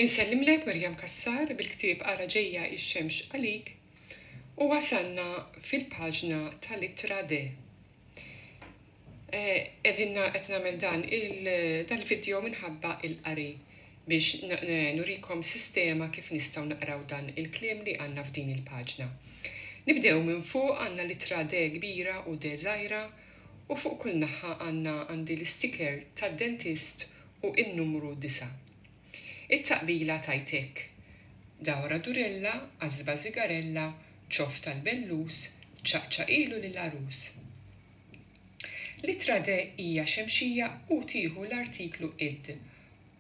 Insellimlek Miriam Cassar bil-ktieb Ara Ġejja x-Xemx Għalik u wasalna fil-paġna tal-ittra de. Eh, qegħdin qed nagħmel dan il-video minħabba il-qari biex nurikom sistema kif nistgħu naqraw dan il-kliem li għandna f'din il-paġna. Nibdew minn fuq għandna l-ittra de kbira u de żgħira u fuq kull naħħa għandna għandi l-istiker tad-dentist u in-numru disa'. It-taqbila tgħid hekk, Dawra durella, għażba żigarella, ċoff tal-bellus, ċaqċaqilu lill-għarus. L-ittra de hija xemxija u tieħu l-artiklu id.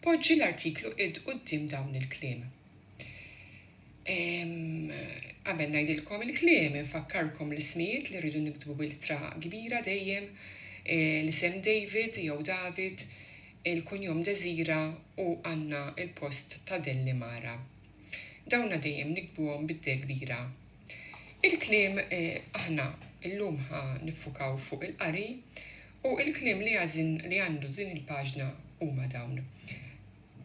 Poġġi l-artiklu id quddiem dawn il-kliem. Qabel ngħidilkom il-kliem, infakkarkom l-ismijiet li rridu niktbu bil-ittra kbira dejjem, eh, l-isem David jew David, il-kunjom Desira u Anna il-post ta' Delli Mara. Dawna dejjem nikbuhom bid-de kbira. Il-kliem eh, aħna illum ħa niffukaw fuq il-qari u il-kliem li għażin li għandu din il-paġna huma dawn.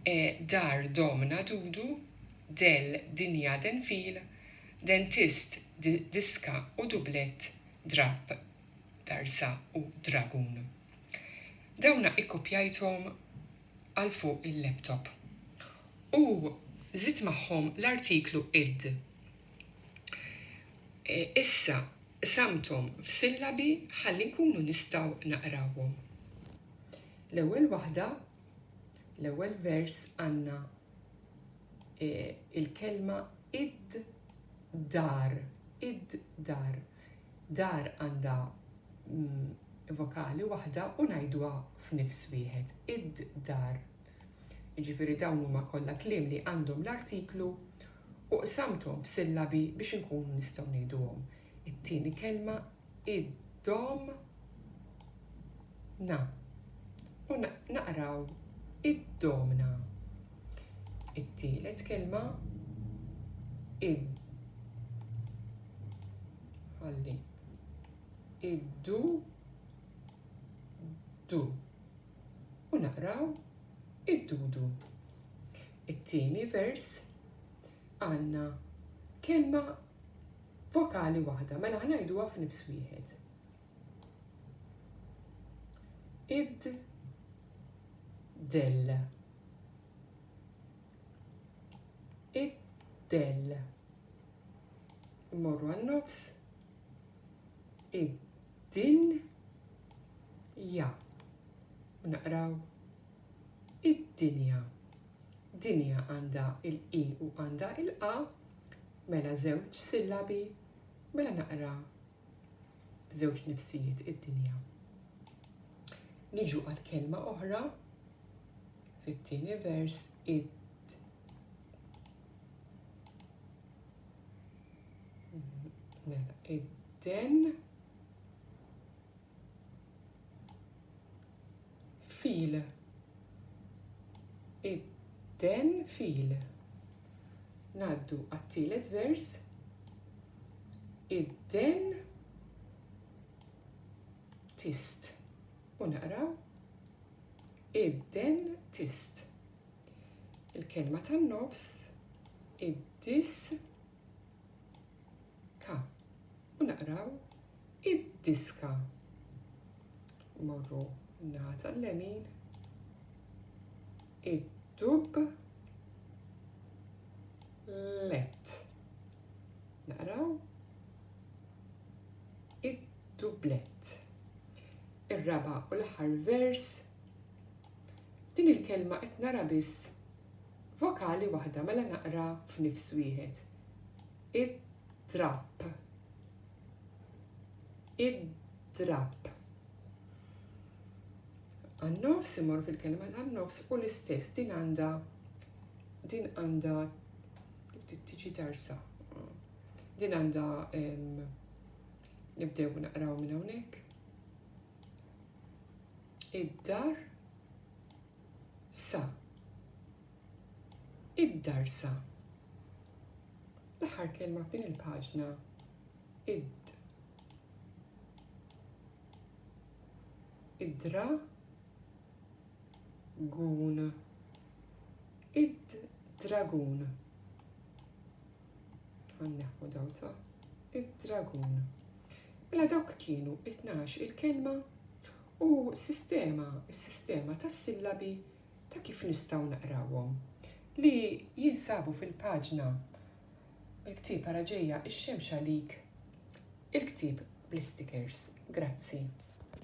E dar domna dudu, del dinja den fil, dentist d diska u dublett drapp darsa u dragun. Dawna ikkopjajthom għal fuq il-laptop. U żidt magħhom l-artiklu id. Issa qsamthom f'sillabi ħalli nkunu nistgħu naqrawhom. L-ewwel waħda L-ewwel vers għandna e, il-kelma id-dar, id-dar. Dar għandha mm, vokali waħda u ngħidwa f'nifs wieħed, id-dar. Jiġifieri dawn huma kollha kliem li għandhom l-artiklu u qsamthom f'sillabi biex inkunu nistgħu ngħiduhom. It-tieni kelma id-dom na u naqraw id-domna. It-tielet kelma id ħalli id-du du u naqraw id-dudu. It-tieni vers għandna kelma Vokali waħda, mela ħa ngħiduha f'nifs wieħed. Id del. Id del. Immorru għan-nofs. Id din ja. Naqraw id-dinja. Dinja għandha il-i u għandha il-a, Mela żewġ sillabi, mela naqra b'żewġ nifsijiet id-dinja. Niġu għal kelma oħra fit-tieni vers id Mela, id-den fil id-den fil ngħaddu għat-tielet vers id-den tist u naqraw id-den tist. Il-kelma tan-nofs id-dis Ta, u naqraw id-diska. Morru naħa tal-lemin, id-dub, let. Naqraw id-dublet. Ir-raba u l-aħħar vers Din il-kelma qed nara biss vokali waħda mela naqra f'nifs wieħed. Id-drapp. Id-drapp. Għan-nofs imorru fil-kelma tan-nofs u l-istess din għandha din għandha tiġi darsa. Din għandha nibdew naqraw minn hawnhekk. id-dar sa id-dar sa l-aħħar kelma f'din il-paġna id id-dra gun id-dragun Għanneħu daw ta' id-dragun. Mela dawk kienu it-tnax il-kelma u sistema, sistema tas sillabi ta' kif nistaw naqrawhom li jinsabu fil-paġna il-ktib għara ġeja ix-xemx għalik il-ktib bl-istikers. Grazzi.